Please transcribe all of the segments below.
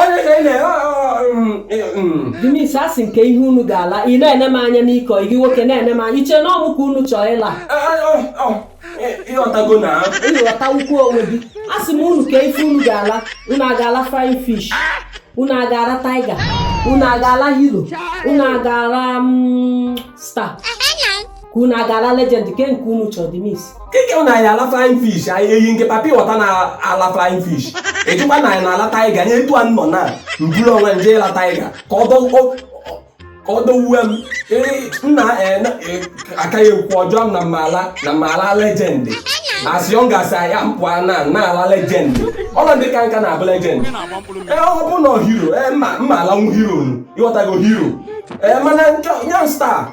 onye ka ị na Denise asị m ke ihe unu ga-ala ị na-ene m anya n'ikọ gị nwoke na-ene m anya i che na ọ mụ ka unu chọọ ịla ịghọtago na ịghọta ukwu onwe gị asị m unu ke ife unu ga-ala unu aga-ala flying fish unu aga-ala tiger unu aga-ala hero unu aga-ala mm, star ka unu aga-ala legend ke nke unu chọrọ dị mis keke na anyị ala flying fish anyị eyi nke papi wọta na-ala flying fish ejikwa na anyị na-ala tiger nye etu a nọ na m buru onwe m je ịla tiger ka ọ dọ- ọ- ọ- ka ọ dọwuwe m Ee, nna eh, na- eh, akaghị ekwu ọjọọ m na m ma-ala na m ma-ala legend as young as I am pụọ na na-ala legend ọla ndị ka nka na-abụ legend ee ọ bụ na hero ee m ma m ma alanwu hero nu ịghọtago hero ee mana nke young star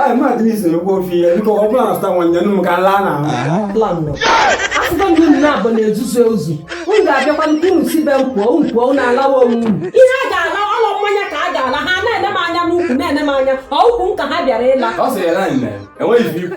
Ai, ma adịghị iso egwu ofe ihe biko ọ bụla na-asụta nwa nyanụ m ka laa na ahụ asụta ndị unu na-abụ na-ezuzu ezuzu m ga-abịakwa nke unu si be m pụọ unu pụọ unu alawa onwe unu ihe a ga-ala ọlọ mmanya ka a ga-ala ha na-ene m anya n'ukwu na-ene m anya ọ ukwu m ka ha bịara ịla ọ sị ya na nne enweghị ife ikwu